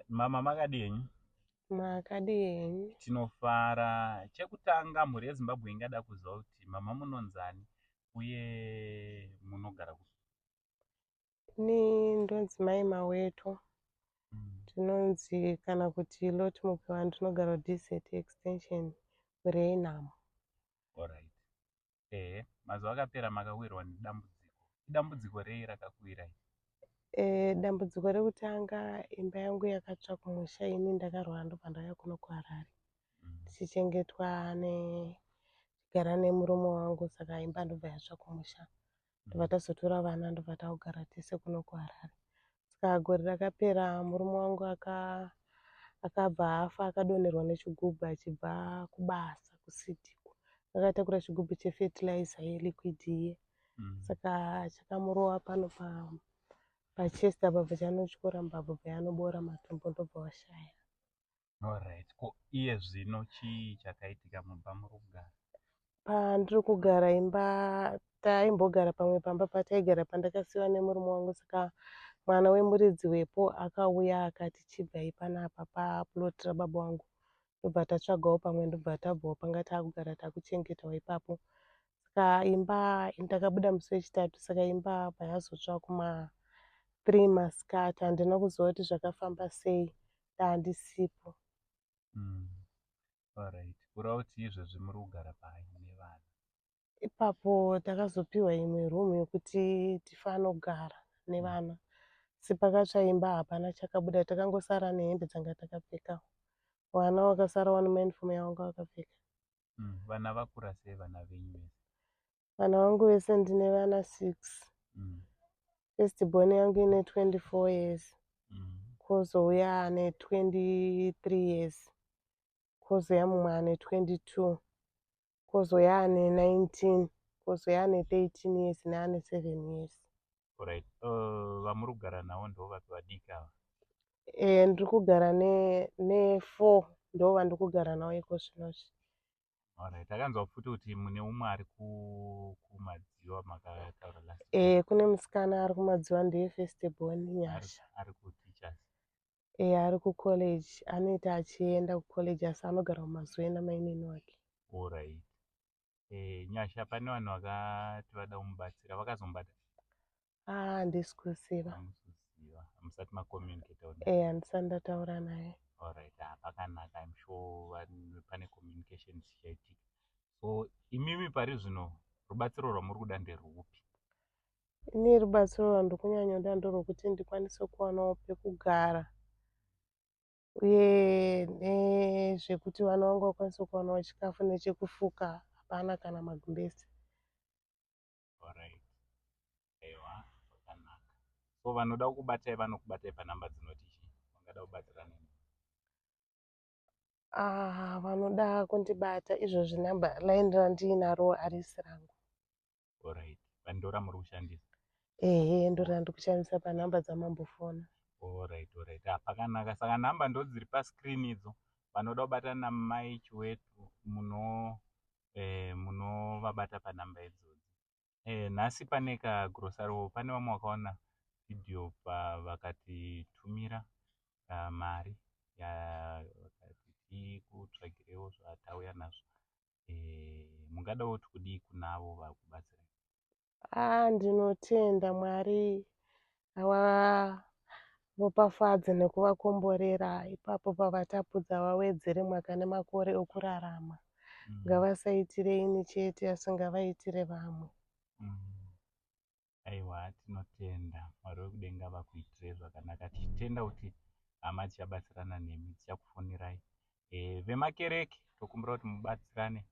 mama makadii henyu makadii henyu tinofara chekutanga mhuri yezimbabwe ingada kuziva kuti mama munonzani uye munogara ku ni ndonzi mai maweto mm. tinonzi mm. kana kuti lot mupiwa ndinogara dz extension renamo Ehe, mazuva akapera makawirwa nedambudziko. Idambudziko rei rakakuwirai? Eh, dambudziko rekutanga imba yangu yakatsva kumusha ini ndakarwara ndobva ndauya kuno kuharare Mm. ndichichengetwa ne gara nemurume wangu saka imba ndobva yatsva kumusha ndobva tazotora vana ndobva taogara tese kuno kuharare saka gore rakapera murume wangu akabva afa akadonherwa nechigubhu achibva kubasa kusidhiko akatakura chigubhu chefertilizer yeliquid iye mm. saka chakamurowa pano pa pachest apa bva chanotyora mbabvu bva yanoboora matombo ndobva washaya Alright. Ko iye zvino chii chakaitika mumba muri kugara? Pandiri kugara imba taimbogara pamwe pamba pataigara pandakasiwa nemurume wangu saka mwana wemuridzi wepo akauya akati chibvai panapa paplot rababa wangu ndobva tatsvagawo pamwe ndobva tabvawo panga taakugara takuchengetawo ipapo saka imba ndakabuda musi wechitatu saka imba apa yazotsva kuma three masikati handina kuziva kuti zvakafamba sei handisipo mm. Alright. Kura kuti izvezvi muri kugara pai nevana? Ipapo takazopiwa imwe room yokuti tifanogara nevana. Asi pakatsva imba hapana chakabuda, takangosara nehembe dzanga takapfeka. Vana vakasara wani mauniform yavanga vakapfeka. Mm, vana vakura sei vana venyu vese? vana vangu vese ndine vana six mm. first born yangu ine 24 years mm. kozouya ane 23 years kozouya mumwe ane 22 kozouya ane 19 kozouya ane 13 years neane 7 years right uh, vamuri kugara navo ndo vapi vadiki ava e, ndiri kugara nefour ne ndo vandiri kugara navo iko zvino zvi Alright, akanzwa futi kuti mune umwe ari ku- kumadziva makataura last time. Eh, kune musikana ari kumadziva ndeye first born ari, nyasha ari kuteachers Eh, ari kucollege anoita achienda kucollege asi anogara kumazuva ena mainini wake alright eh, nyasha pane vanhu vakati vada kumubatsira vakazomubata ah handisi kuziva musati macommunicate e eh, handisati ndataura naye alright ah, pakanaka im sure pane communication dzichaitika so imimi pari zvino rubatsiro rwamuri kuda nderwupi ini rubatsiro rwandiri kunyanyoda ndorwekuti ndikwanise kuwanawo pekugara uye nezvekuti vana vangu vakwanise kuwanawo chikafu nechekufuka hapana kana magumbezi Alright. Ewa, zvakanaka. So vanoda kukubatai vanokubatai panumber dzinoti chii? Vangada kubatsira nini? Ah, vanoda kundibata izvozvi number line randiinaro harisi rangu. Alright. Pandora muri kushandisa. Ehe, ndorina ndikushandisa panumber dzamambofona. Alright, alright. Ah, pakanaka. Saka number ndodziri pascreen idzo. Vanoda kubata namai Chiwetu muno eh, munovabata panhamba idzodzi eh, nhasi pane kagrosaro pane vamwe vakaona video pavakatitumira uh, mari vakati tikutsvagirewo zvatauya nazvo eh, mungadawo tikudii kunavo vakubatsira Ah, ndinotenda Mwari havaropafadze nekuvakomborera ipapo pavatapudza vawedzere mwaka nemakore okurarama. Mm. Ngavasaitire ini chete asi ngavaitire vamwe. Mm. Aiwa tinotenda Mwari wekudenga vakuitire zvakanaka tichitenda kuti hama tichabatsirana nemi tichakufonirai eh, vemakereke tokumbira kuti mubatsirane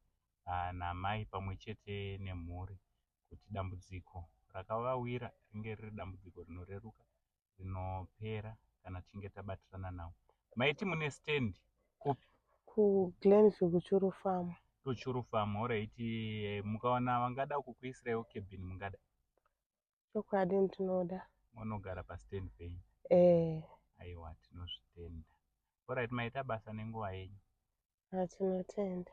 ah, namai pamwe chete nemhuri kuti dambudziko rakavawira ringe riri dambudziko rinoreruka rinopera kana tichinge tabatirana navo maiti mune stand kupi kuglenview kuchuru farm kuchuru farm horaiti eh, mukaona vangada kukuisiraiwo kebhini mungada chokwadi ndinoda mwana ogara pastand penyu eh aiwa tinozvitenda orit maita basa nenguva yenyu atinotenda